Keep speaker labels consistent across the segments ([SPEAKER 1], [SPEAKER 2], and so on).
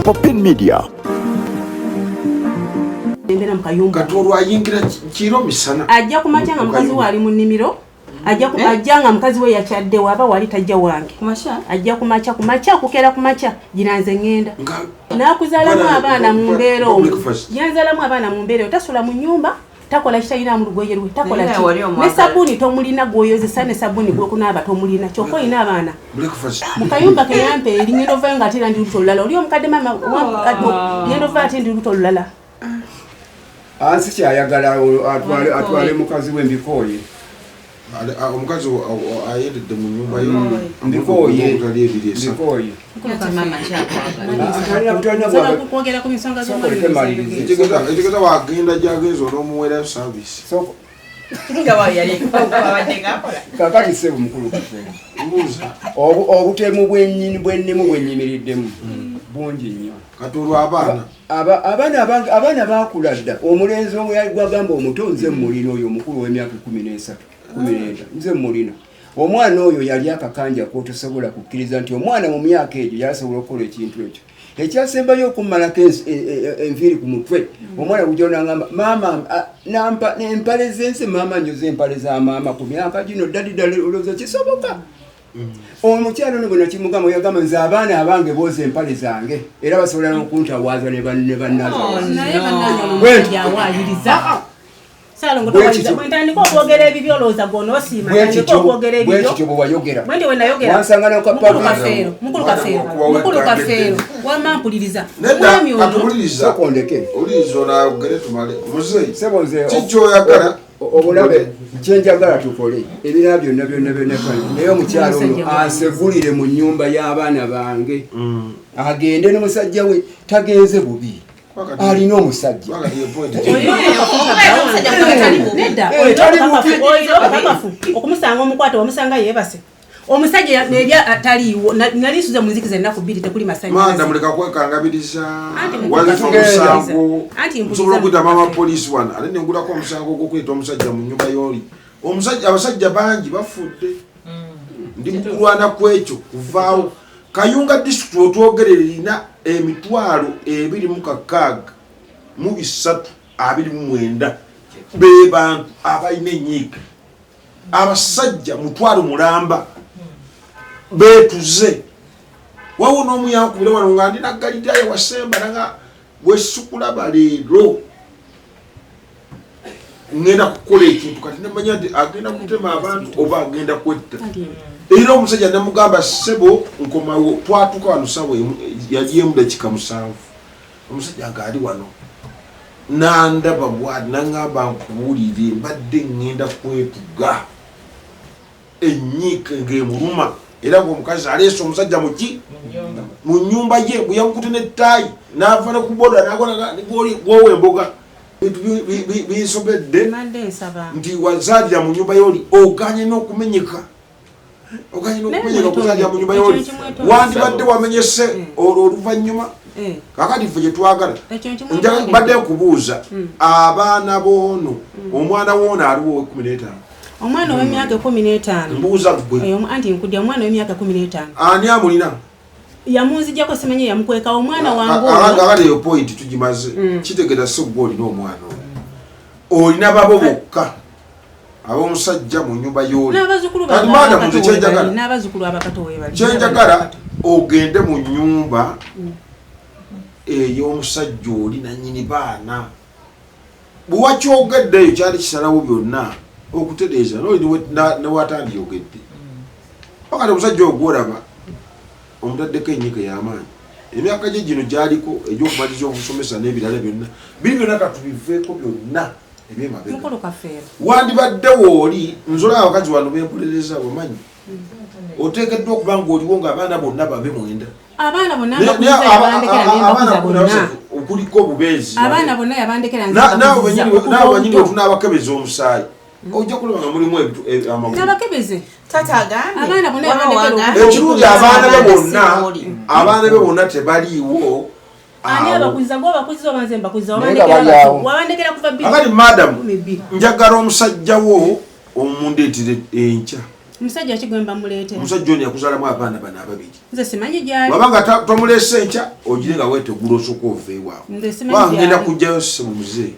[SPEAKER 1] Popin Media
[SPEAKER 2] embera mukayumba kati olwo ayingira kiro misana ajja kumakya nga mukazi
[SPEAKER 3] we ali mu nnimiro ajja eh? ajja nga mukazi we yakyadde waba wali tajja wange ajja kumakya kumakya okukera kumakya gira nze ŋŋenda nakuzalamu abaana mu mbeera omu yanzalamu abaana mu mbeera tasula mu nyumba takola kitalinamu lugoye lwe takola ki ne sabuni tomulina gwoyozesa ne sabuni gwokunaaba tomulina kyokka olina abaana mu kayumba keyampa eri ngenda ovayo nga ate era ndi lubuto olulala oli omukadde maama oh. ngenda ovayo ate ndi lubuto olulala
[SPEAKER 4] ansi kyayagala atwale mukazi we mbikooye
[SPEAKER 2] omukazi ayendedde mu nyumba
[SPEAKER 4] yoekigeza
[SPEAKER 2] wagenda gyagenza onomuwera service
[SPEAKER 4] kakati sebo mukulu obutemu bwenyini bwenemu bwenyimiriddemu hmm. bungi nnyo kati olwabaana
[SPEAKER 2] abaana abange abaana
[SPEAKER 4] bakula dda omulenzi omu yali gwagamba omuto nze mmulina oyo omukulu ow'emyaka kumi n'esatu kumi n'ena nze mmulina omwana oyo yali akakanja kwotosobola kukkiriza nti omwana mu myaka egyo yasobola okukola ekintu ekyo ekyasembayo okummalako e, e, e, enviiri ku mutwe omwana gujja nangamba maama nampa empale zensi maama nyoza empale za maama ku myaka gino ddadi ddala olowooza kisoboka Mm. omukyalo ono bwena kimugamba yagamba nze abaana abange booza empale zange era basobola nokuntawaaza ne bannabwentandika okwogera ebibyo olowooza gwonoosiimaokwogeraebibyo bwewayogera
[SPEAKER 3] wamampuliriza omwami
[SPEAKER 4] ono
[SPEAKER 2] obulabe
[SPEAKER 4] kyenjagala tukole ebirala byonna byonna byonna naye omukyalo ono asegulire mu nyumba y'abaana bange mm. agende n'omusajja we tagenze bubi alina omusajja okumusanga
[SPEAKER 3] omukwate wamusanga yebase omusajja nebya ataliiwo nali nsuze mu nzikiza ennaku bbiri tekuli masanyalaze muleka
[SPEAKER 2] kwekangabiriza walifa omusango nsobola okuyita mama poliisi wano ate nengulako omusango ogwokuyita omusajja mu nyumba yooli omusajja abasajja bangi bafudde mm. ndi mukulwana ku ekyo kuvaawo kayunga disitulikiti wetwogerera erina emitwalo ebiri mu kakaaga mu bisatu abiri mu mwenda be bantu abalina enyiika abasajja mutwalo mulamba betuze wawo nomuyankubira wano nga ndi nagalidaya wasemba nanga wesikulaba leero ngenda kukola ekintu kati nemanya nti agenda kutema abantu oba agenda kwetta era omusajja namugamba sebo nkomawo twatuka wano sawa yali emudakika musanvu Omusajja nga ali wano nandaba bwati nangamba nkuwulire mbadde ngenda kwetuga enyiika ngemuluma era nga omukazi aleese omusajja muki mu nyumba ye bweyamukute nettaayi nava ne kuboda nagwagwowa emboga binsobedde nti wazaalira mu nyumba ye oli oganye n'okumenyeka oganyina okumenyera okuzalira mu nyumba yoli wandibadde wamenyese mm. olwo oluvannyuma mm. kakati ffe gyetwagala badde nkubuuza mm. abaana boono omwana woono aliwo owekumi n'etaano omwana owemyaka
[SPEAKER 3] ekumi n'etaano mbuuza gwe
[SPEAKER 2] anti nkudya omwana owemyaka
[SPEAKER 3] ekumi n'etaano ani amulina
[SPEAKER 2] yamunzijako
[SPEAKER 3] simanyi yamukwekawo omwana wangeagala eyo point
[SPEAKER 2] tugimaze kitegera si gwe olina omwana olina babo bokka ab'omusajja mu nyumba y'oli kati madamu nze
[SPEAKER 3] kyenjagala
[SPEAKER 2] ogende mu nyumba mm. ey'omusajja oli nanyini baana bwewakyogeddeyo kyali kisalawo byonna okutereeza noli newatandyogedde pakati mm. omusajja ogwolaba omutaddeko enyika ey'amaanyi emyaka gye gino gyaliko egyokumaliza obusomesa n'ebirala byonna biri byonna katubiveeko byonna wandibadde wooli nzola abakazi wano benkolereza omanyi mm-hmm. oteekeddwa okuba ngaoliwo ngaabaana bonna babe mwenda
[SPEAKER 3] abaana bonna okuliko obubeezi
[SPEAKER 2] abaana bonna
[SPEAKER 3] yabandekera
[SPEAKER 2] naawe wenyini otunaabakebeza omusaayi mm. ojja kulaba nga mulimu
[SPEAKER 3] amagulabakebeze
[SPEAKER 2] ekirungi abaana be bonna abaana be bonna tebaliiwo ani abakuziza gwe abakuziza oba nze mbakuziza wabandekera kuva bibali madam njagala omusajja wo omundeetera enkya
[SPEAKER 3] omusajja ki gwemba muleetera omusajja ono yakuzalamu
[SPEAKER 2] abaana bano ababiri nze simanyi gyali
[SPEAKER 3] waba nga tomuleese
[SPEAKER 2] enkya ogire nga wetegula osooka ova ewaabwe ngenda kujjayo simuzeeyi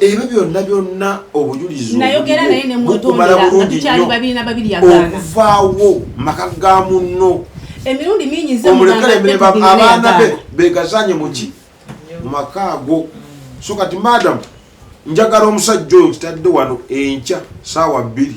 [SPEAKER 2] ebyo byonna byonna obujulizibukumala
[SPEAKER 3] bulungi nyo okuvaawo
[SPEAKER 2] maka ga munno emirundi
[SPEAKER 3] mingi abaana
[SPEAKER 2] be begazanye muki mumaka ago so kati madam njagala omusajja oyo kitadde wano enkya saawa bbiri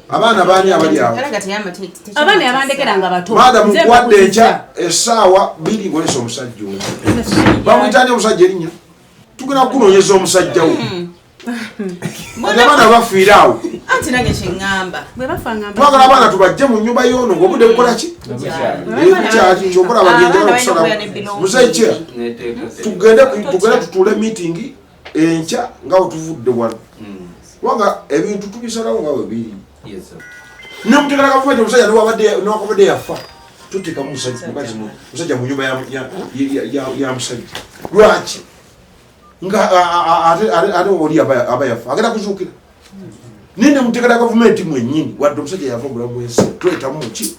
[SPEAKER 3] abaana baani abali
[SPEAKER 2] awo abaana
[SPEAKER 3] yabandekera nga bato maada mukwadde enkya
[SPEAKER 2] esaawa biri bwesa omusajja oyo bamuyitani omusajja erinya tugenda kukunonyeza omusajja wo hmm. abaana bafiire awo
[SPEAKER 1] twagala
[SPEAKER 2] abaana tubajje mu nyumba yono ngaobude bukolaki bukyali kyokola bagenjala okusala muzeekye tugende tutule mitingi enkya nga wetuvudde wano hmm. kubanga ebintu tubisalawo nga webiri nemutegala gavumenti omusajja newakubadde yafa tuteka musajja munyumba ya musajja lwaki nga ate oli aba yafa agenda kuzuukira hmm. naye nemutegala gavumenti mwenyini wadde omusajja yava obulamu bwensi twetamu muki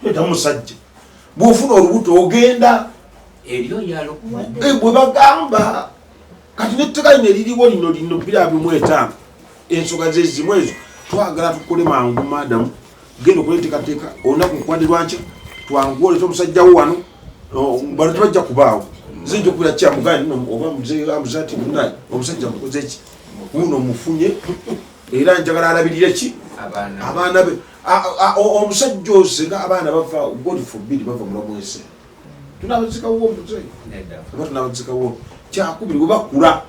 [SPEAKER 2] twetamu musajja bwofuna olubuto ogenda ebyo yalo bwe bagamba kati netteka lino eririwo lino lino bira bimu etaano ensoga zezimu ezo twagala tukole mangu madamu genda okuletekateeka olunaku kukwade lwankya twangu oleta omusajjawo wano bano tebajja kubaawo zinja okubira kyamugani oba muzeamuze ati munaye omusajja mukoze ki uno mufunye era njagala alabirire ki abaana be omusajja oze nga abaana bava god forbid bava mulamu ensi tunabazikawo omuze oba tunabazikawo kyakubiri bwe bakula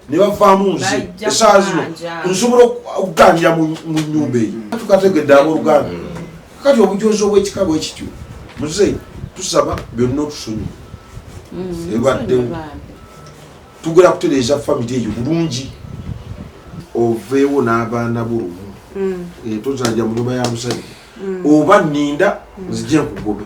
[SPEAKER 2] ne bavaamu nze esaa zino nsobola okuganjira mu nyumba eyo mm. tukategedde aboluganda mm. kati obujozi obwekika bwekityo muze tusaba byonna otusonyi mm. ebaddewo tugera kutereeza famiry eyo bulungi oveewo n'abaana bulumu etozanja mu nyumba ya musajja oba ninda nzije nkugobe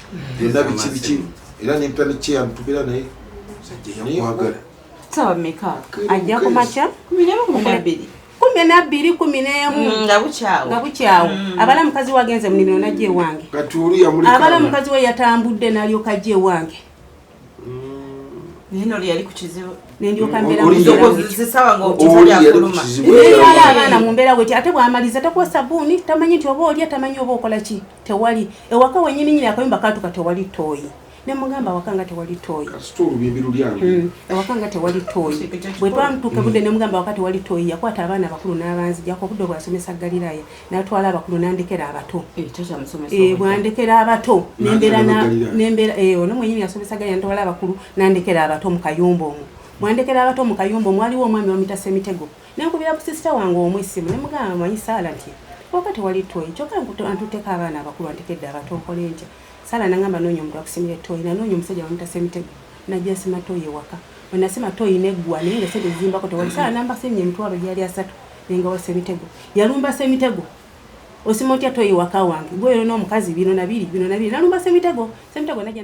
[SPEAKER 2] byonna biki biki era nempya nekyeya ntubira naye nayekwagala sawa
[SPEAKER 1] meka ajja kumakya kumi nabbiri kumi nemu
[SPEAKER 3] mm, nga bukyawo mm. abala mukazi wagenze munimiro najja ewange abala mukazi we yatambudde nalyoka ajja ewange
[SPEAKER 1] neno
[SPEAKER 3] lyali
[SPEAKER 1] ku kizibu nendyoka mbeeraaaana
[SPEAKER 3] mu mbeera weti ate bwamaliza takuwa sabuuni tamanyi nti oba olya tamanyi oba okola ki tewali ewaka wenyini nyini akayumba katuka tewali toyi nemugamba awaka nga tewali toyi hmm, awaka nga tewali toyi bwetwamutuuka budde nemugamba awaka tewali toyi yakwata abaana abakulu n'abanzijako obudde obwasomesa galiraya natwala abakulu nandekera abato eh, eh, bwandekera abato nembera eh, ono mwenyini yasomesa galiraya natwala abakulu nandekera abato mu kayumba omwo mwandekera abato mu kayumba omwaliwo omwami wamita semitego Nenkubira ku sister wange omu essimu ne mugamba manyi saala nti waka tewali tooyi kyokka antutteko abaana abakulu antekedde abato nkole ntya saala nangamba noonya omuntu akusimira ettooyi nanoonya omusajja bamutasa emitego najja nsima tooyi ewaka bwe nasima tooyi neggwa naye nga sente zimbako tewali saala nambasemye emitwalo gyali asatu nengawasa emitego yalumbasa emitego osima otya tooyi waka wange gweyo n'omukazi bino nabiri bino nabiri nalumbasa emitego semitego najja